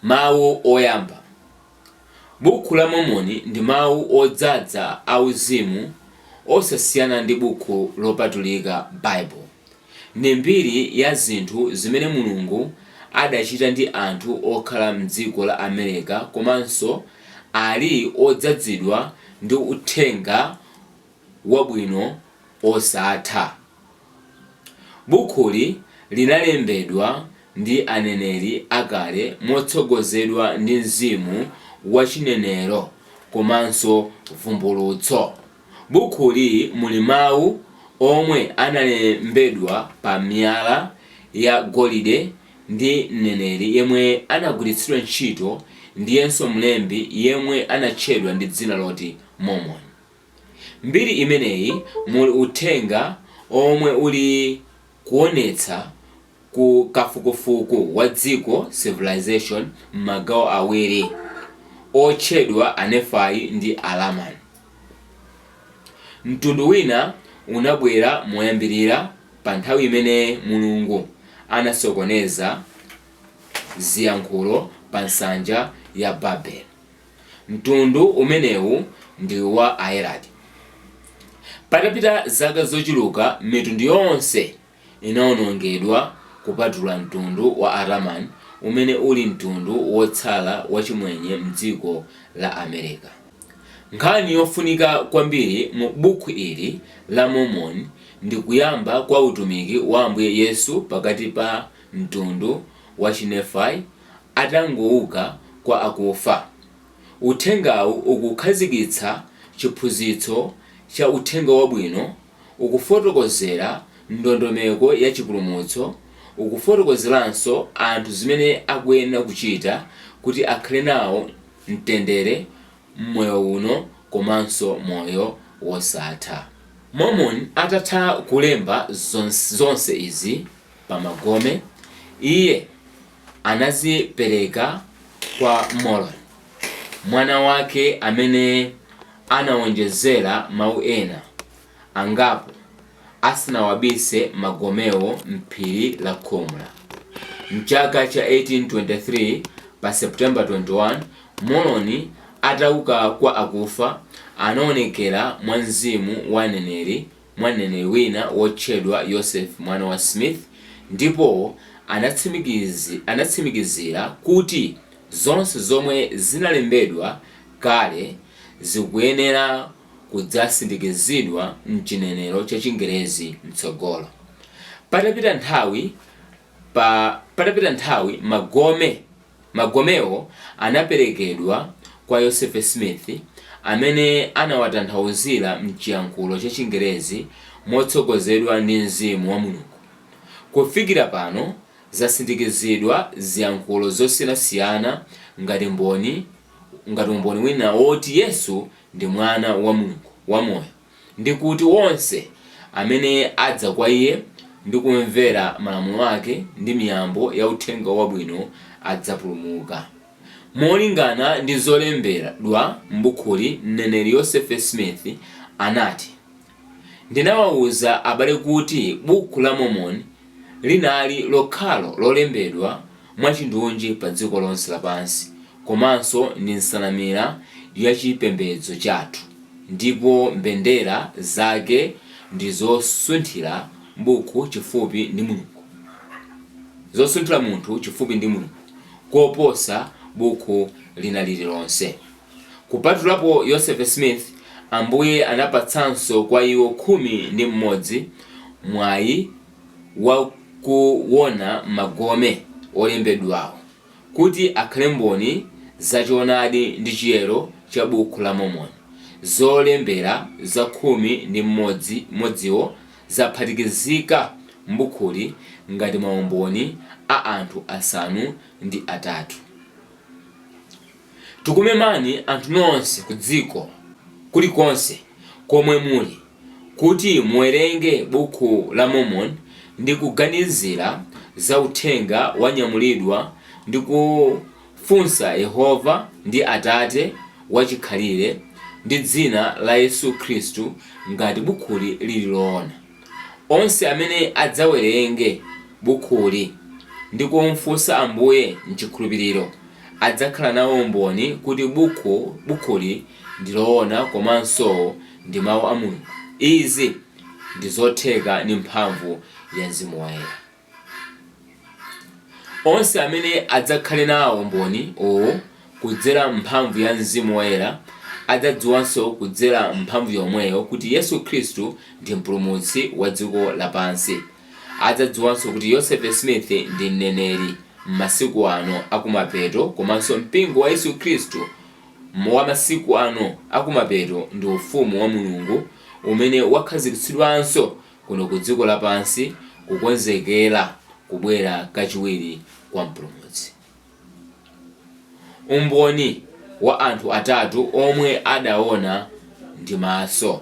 Mawu Oyamba. Bukhu la Mormoni ndi mawu odzadza auzimu osasiyana ndi bukhu lopatulika Bible. Ndi mbiri ya zinthu zimene Mulungu adachita ndi anthu okhala mdziko la America komanso ali odzadzidwa ndi uthenga wabwino osatha. Bukhuli linalembedwa ndi aneneri akale motsogozedwa ndi mzimu wa chinenero komanso vumbulutso. Bukhuli muli mawu omwe analembedwa pa miyala ya golide ndi mneneri yemwe anagwiritsidwa ntchito ndiyenso mlembi yemwe anatchedwa ndi dzina loti Mormoni. Mbiri imeneyi muli uthenga omwe uli kuonetsa ku kafukufuku wa dziko Civilization m'magawo awiri otchedwa Anefai ndi Alamani. Mtundu wina unabwera moyambirira pa nthawi imene Mulungu anasokoneza ziyankhulo pa nsanja ya Babele. Mtundu umenewu ndi wa Ayeradi. Patapita zaka zochuluka, mitundu yonse inawonongedwa kupatula mtundu wa Alamani umene uli mtundu wotsala wachimwenye m'dziko la America. Nkhani yofunika kwambiri mu bukhu ili la Mormoni ndi kuyamba kwa utumiki wa Ambuye Yesu pakati pa mtundu wa Chinefai atangouka kwa akufa. Uthengawu ukukhazikitsa chiphunzitso cha Uthenga Wabwino, ukufotokozera ndondomeko ya chipulumutso, ukufotokozeranso anthu zimene akuyenera kuchita kuti akhale nawo mtendere m'moyo uno komanso moyo wosatha. Mormoni atatha kulemba zonse izi, pa magome, iye anazipereka kwa Moroni, mwana wake amene anawonjezera mawu ena angapo asanawabise magomewo m'phiri la Khomola. M'chaka cha 1823 pa September 21, Moroni atauka kwa akufa anaonekera mwa mzimu wa aneneri mwa mneneri wina wotchedwa Yosefe mwana wa Smith ndipo anatsimikiz, anatsimikizira kuti zonse zomwe zinalembedwa kale zikuyenera kudzasindikizidwa m'chinenero cha Chingerezi mtsogolo. Patapita nthawi, pa, patapita nthawi magome. Magomewo anaperekedwa kwa Yosefe Smith, amene anawatanthauzira m'chiyankhulo cha Chingelezi motsogozedwa ndi mzimu wa Mulungu. Kufikira pano zasindikizidwa ziyankhulo zosiyanasiyana ngati mboni ngati umboni wina woti Yesu ndi Mwana wa Mulungu wamoyo. ndi kuti wonse amene adza kwa Iye ndi kumvera malamulo ake ndi miyambo ya Uthenga Wabwino adzapulumuka. Molingana ndi zolembedwa m'bukhuli, mneneri Yosefe Smith anati, Ndinawauza abale kuti Bukhu la Mormoni linali lokhalo lolembedwa mwachindunji padziko lonse lapansi komanso ndi nsanamira ya chipembedzo chathu, ndipo mbendera zake ndi zosunthira bukhu chifupi ndi Mulungu, zosunthira munthu chifupi ndi Mulungu, koposa bukhu lina lililonse. Kupatulapo Yosefe Smith, Ambuye anapatsanso kwa iwo khumi ndi mmodzi mwayi wa kuwona magome olembedwawo kuti akhale mboni za choonadi ndi chiyero cha Bukhu la Mormoni. Zolembera za khumi ndi mmodzi modziwo zaphatikizika m'bukhuli ngati maumboni a anthu asanu ndi atatu. Yoh. Tikumemani anthu nonse kudziko kulikonse komwe muli kuti muwerenge Bukhu la Mormoni ndi kuganizira za uthenga wanyamulidwa ndi kufunsa Yehova ndi Atate wachikhalire ndi dzina la Yesu Khristu ngati bukhuli lili loona. Onse amene adzawerenge bukhuli ndi kumfunsa Ambuye m'chikhulupiriro adzakhala nawo umboni kuti bukhu bukhuli ndi loona komanso ndi mau a Mulungu. Izi ndi zotheka ndi mphamvu ya Mzimu Woyera. Onse amene adzakhale nawo umboni uwu kudzera m'mphamvu ya Mzimu Woyera adzadziwanso kudzera m'mphamvu yomweyo kuti Yesu Khristu ndi Mpulumutsi wa dziko lapansi. Adzadziwanso kuti Joseph Smith ndi mneneri m'masiku ano akumapeto komanso Mpingo wa Yesu Khristu wa masiku ano akumapeto ndi Ufumu wa Mulungu umene wakhazikitsidwanso kuno ku dziko lapansi kukonzekera kubwera kachiwiri kwa Mpulumutsi. Umboni wa anthu atatu omwe adaona ndi maso.